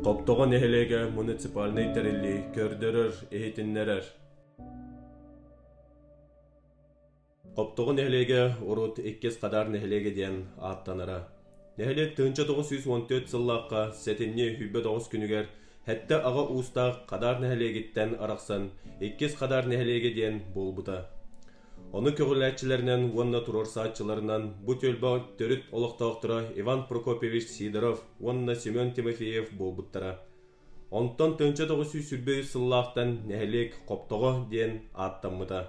Хоптоҕо нэһилиэгэ муниципальнай тэриллии көрдөрөр, иһитиннэрэр. Хоптоҕо нэһилиэгэ урут иккис Хадаар нэһилиэгэ диэн ааттанара. Нэһилиэк тыһыынча тоҕус сүүс уон төрт сыллаахха сэтинньи үһүйбэт оҕус күнүгэр сэттэ аҕа уустаах Хадаар нэһилиэгиттэн арахсан Иккис Хадаар нэһилиэгэ диэн буолбута. Ону көҕүлээччилэринэн уонна туруорсааччыларынан бу түөлбэ төрүт олохтоохторо Иван Прокопьевич Сидоров уонна Семен Тимофеев буолбуттара. Онтон төнчө тоҕус сүүс сүүрбэ үс сыллаахтан нэһилиэк Хоптоҕо диэн ааттаммыта.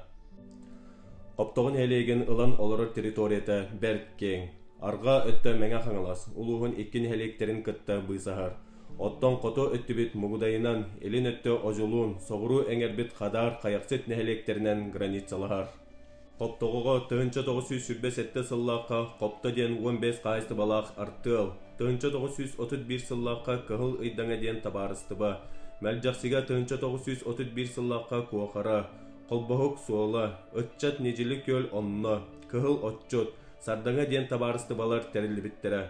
Хоптоҕо нэһилиэгин ылан олорор территорията бэрт киэҥ. Арҕаа өттө Мэҥэ Хаҥалас улууһун икки нэһилиэктэрин кытта быысаһар. Оттон хоту өттүбүт Мугудайынан, илин өттө Одьулуун, соҕуруу эҥэрбит Хадаар Хайахсыт нэһилиэктэринэн границалаһар. Хоптоҕоҕо тыһыынча тоҕус сүүс сүүрбэ сэттэ сыллаахха Хопто диэн уон биэс хаһаайыстыбалаах артыал, тыһыынча тоҕус сүүс отут биир сыллаахха Кыһыл Ыйдаҥа диэн табаарыстыба, Мэлдьэхсигэ тыһыынча тоҕус сүүс отут биир сыллаахха Куохара, Холбоһук суола, Ыччат Ньидьили күөл онно, Кыһыл Отчут, Сардаҥа диэн табаарыстыбалар тэриллибиттэрэ.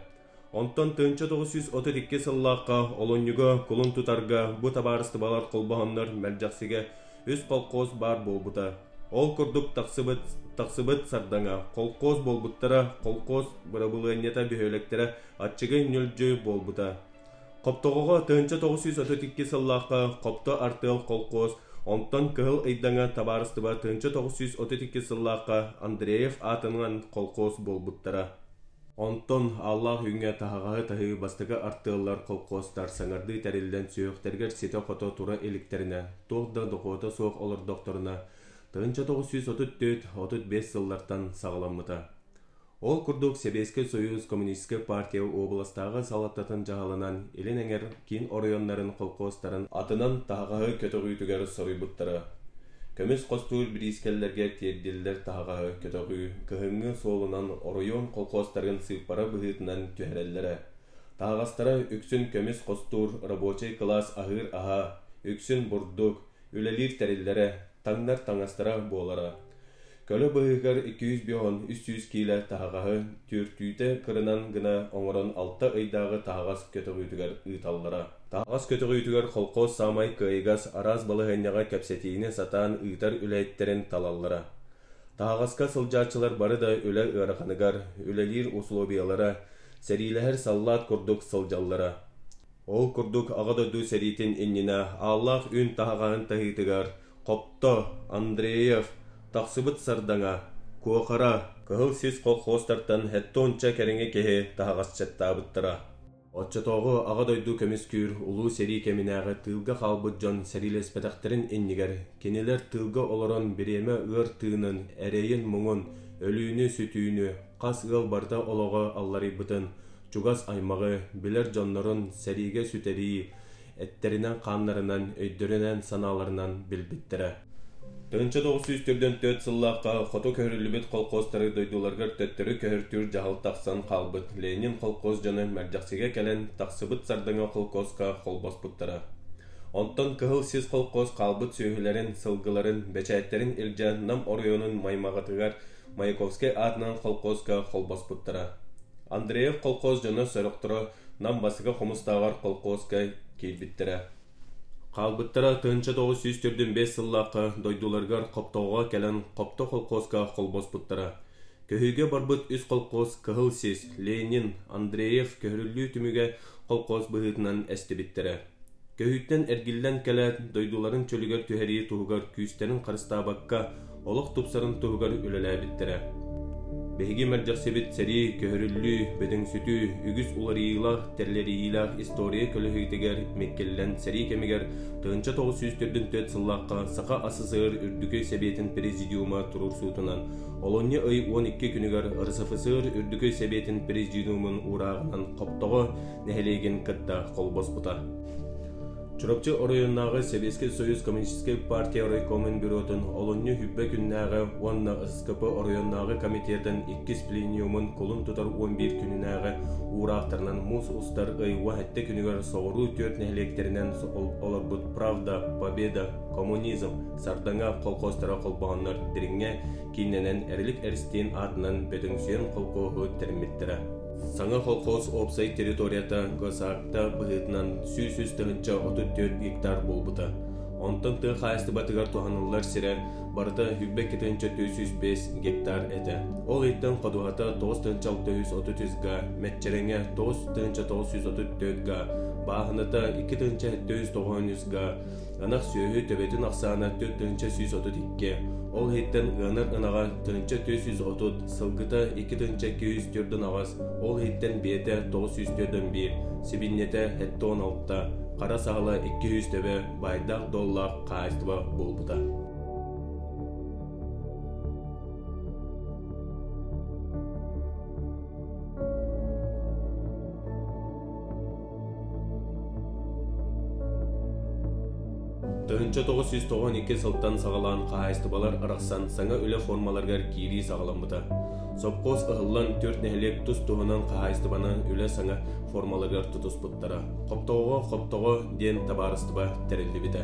Онтон төнчө тоҕус сүүс отут икки сыллаахха олонньуга кулун тутарга бу табаарыстыбалар холбоһоннор мэлдьэхсигэ үс колхоз баар буолбута. Ол курдук тахсыбыт тахсыбыт сардаҥа колхоз буолбуттара колхоз бырабылыанньата бөһүөлэктэрэ аччыгы ньүлдьү буолбута. Хоптоҕоҕо төнчө тоҕус сүүс отут икки сыллаахха Хопто артыал колхоз онтон Кыһыл Ыйдаҥа табаарыстыба төнчө тоҕус сүүс отут икки сыллаахха Андреев аатынан колхоз буолбуттара. Онтон Аллаах Үүҥҥэ таһаҕаһы таһыы бастакы артыаллар колхуостар саҥардыы тэриллэн сүһүөхтэригэр ситэ-хото тура иликтэринэ, туох да дохуота суох олордохторуна, тыһыынча тоҕус сүүс отут түөрт отут биэс сыллартан саҕаламмыта. Ол курдук Сэбиэскэй Союз Коммунистическай партия уобаластааҕы салалтатын дьаһалынан илин эҥэр киин оройуоннарын колхуостарын атынан таһаҕаһы көтөҕүүтүгэр соруйбуттара. Көмүс хостуур бириискэлэргэ тиэрдиллэр таһаҕаһы көтөҕүү, кыһыҥҥы суолунан оройуон колхозтарын сыыппара быһыытынан түһэрэллэрэ. Таһаҕастара үксүн көмүс хостуур, рабочай кылаас аһыыр аһа, үксүн бурдук, үлэлиир тэриллэрэ, таҥнар таҥастара буолара. Көлө быыһыгар икки сүүс бион, үс сүүс киилэ таһаҕаһы түөртүүтэ кырынан гына оҥорон алта ыйдааҕы таһаҕас көтөҕүүтүгэр ыыталлара. Таһаҕас көтөҕүүтүгэр холкуос саамай кыайыгас араас балаһыанньаҕа кэпсэтиини сатаан ыытар үлэһиттэрин талаллара. Таһаҕаска сылдьааччылар бары да үлэ ыараханыгар, үлэлиир усулуобуйалара, сэриилэһэр саллаат курдук сылдьаллара. Ол курдук Аҕа дойду сэриитин иннинэ ааллаах үүн таһаҕаһын таһыытыгар Хопто, Андреев, тахсыбыт Сардаҥа, Куохара, Кыһыл сис колхозтартан сэттэ уонча кэриҥэ киһи таһаҕасчыттаабыттара. Оччотооҕу Аҕа дойду көмүскүүр улуу сэрии кэминээҕи тыылга хаалбыт дьон сэриилэспэтэхтэрин иннигэр кинилэр тыылга олорон бириэмэ ыар тыынын, эрэйин-муҥун, өлүүнү-сүтүүнү, хас ыал барыта олоҕо алларыйбытын, чугас аймаҕы, билэр дьоннорун сэриигэ сүтэрии эттэринэн-хааннарынан, өйдөрүнэн-санааларынан билбиттэрэ. Тыһынча тоҕус сүүс төрдөн төрт сыллаахха хоту көһөрүллүбүт холкуостары дойдуларыгар төттөрү көһөртүүр дьаһал тахсан хаалбыт Ленин холкуос дьоно мэлдьэхсигэ кэлэн тахсыбыт Сардаҥа холкуоска холбоспуттара. Онтон Кыһыл Сис холкуос хаалбыт сүөһүлэрин, сылгыларын, бэчээттэрин илдьэ Нам оройуонун маймаҕатыгар Маяковскай аатынан холкуоска холбоспуттара. Андреев колхоз дьоно сорохторо Нам Басыка хомустааҕар колхуоска киирбиттэрэ. Хаалбыттара тыһыынча тоҕус сүүс төрдүн сыллаахха дойдуларыгар Хоптоҕоҕо кэлэн Хопто колхуоска холбоспуттара. Көһүүгэ барбыт үс колхоз Кыһыл Сис, Ленин, Андреев көһөрүллүү түмүгэ колхоз быһыытынан эстибиттэрэ. Көһүүттэн эргиллэн кэлээт, дойдуларын чөлүгэр түһэрии туһугар күүстэрин харыстаабакка, олох тупсарын туһугар үлэлээбиттэрэ. Биһиги мэлдьэхсибит сэрии, көһөрүллүү, бөдөҥсүтүү, үгүс уларыйыылаах, тэлэрийиилээх история көлөһүтүгэр миккиллэн сэрии кэмигэр тыһыынча тоҕус сүүс төрдүн түөрт сыллаахха Саха СССР Үрдүкүй Сэбиэтин Президиума туруорсуутунан олунньу ый уон икки күнүгэр РСФСР Үрдүкүй Сэбиэтин Президиумун уурааҕынан хоптоҕо нэһилиэгин кытта холбоспута. Чурапчы оройуоннааҕы Сэбиэскэй Союз Коммунистическай партия райкомун бюротун олунньу хүббэ күннээҕи уонна СКП оройуоннааҕы комитетин иккис пленумун кулун тутар он биир күнүнээҕи уураахтарынан муус устар ый уоһэттэ күнүгэр соҕуруу түөрт нэһилиэктэринэн олорбут Правда, Победа, Коммунизм, Сардаҥа колхозтара холбоһоннор дириҥҥэ кииннэнэн Эрлик Эристиин аатынан Бөтүҥсүйэн колхоһу тэриммиттэрэ. Саҥа колхоз уопсай территорията ГОСАГТа быһыытынан сүүс үс тыһыынча отут түөрт гектар буолбута. Онтон тыа хаһаайыстыбатыгар туһаныллар сирэ барыта сүүрбэк тыһыынча түөрт сүүс бэс гектар этэ. Ол иһиттэн ходуһата тоҕус тыһыынча алта үс отут үс га, Мэччэрэҥэ тоҕус тыһыынча тоҕус сүүс отут төрт га, Бааһыната икки тыһыынча сэттэ үс тоҕус үс га, Ынах сүөһү төбөтүн ахсаана төрт тыһыынча сүүс отут икки, ол иһиттэн ыанар ынаҕа тыһыынча төрт сүүс отут, сылгыта икки тыһыынча икки жүз төрт ынаҕас, ол иһиттэн бэйэтэ тоҕус сүүс төрт он биир, сибинньэтэ сэттэ уон алта, хара саһыла икки жүз төбө байдаах доллаах хаачество буолбута. Тыһынча тоғыз жүз тоҕон икки сылтан саҕалаан хаһаайыстыбалар арахсан саҥа үлэ формаларыгар киирии саҕаламмыта. Сопхуос ыһыллан төрт нэһилиэк тус-туһунан хаһаайыстыбаны үлэ саҥа формаларыгар тутуспуттара. Хоптоҕо хоптоҕо диэн табаарыстыба тэриллибитэ.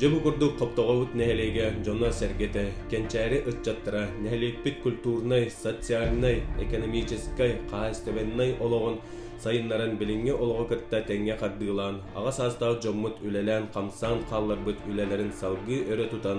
Дьэ бу курдук Хоптоҕобут нэһилиэгэ дьоно-сэргэтэ, кэнчээри ыччаттара нэһилиэкпит культурнай, социальнай, экономическай, хаһаайыстыбаннай олоҕун сайыннаран билиҥҥи олоҕу кытта тэҥҥэ хардыылаан, аҕа саастаах дьоммут үлэлээн-хамсаан хаалларбыт үлэлэрин салгыы өрө тутан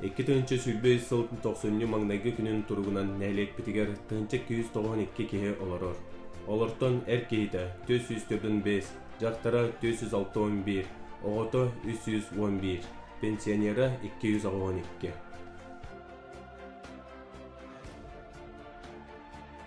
Икки тыһынча сүүрбэ үс сыл тохсунньу маҥнайгы күнүн туругунан нэһилиэкпитигэр тыһынча күүс тоҕон икки киһи олорор. Олортон эр киһитэ түөрт сүүс төрдүн бес, дьахтара түөрт сүүс алта он биир, оҕото үс сүүс уон биир, пенсионера икки жүз оҕо он икки.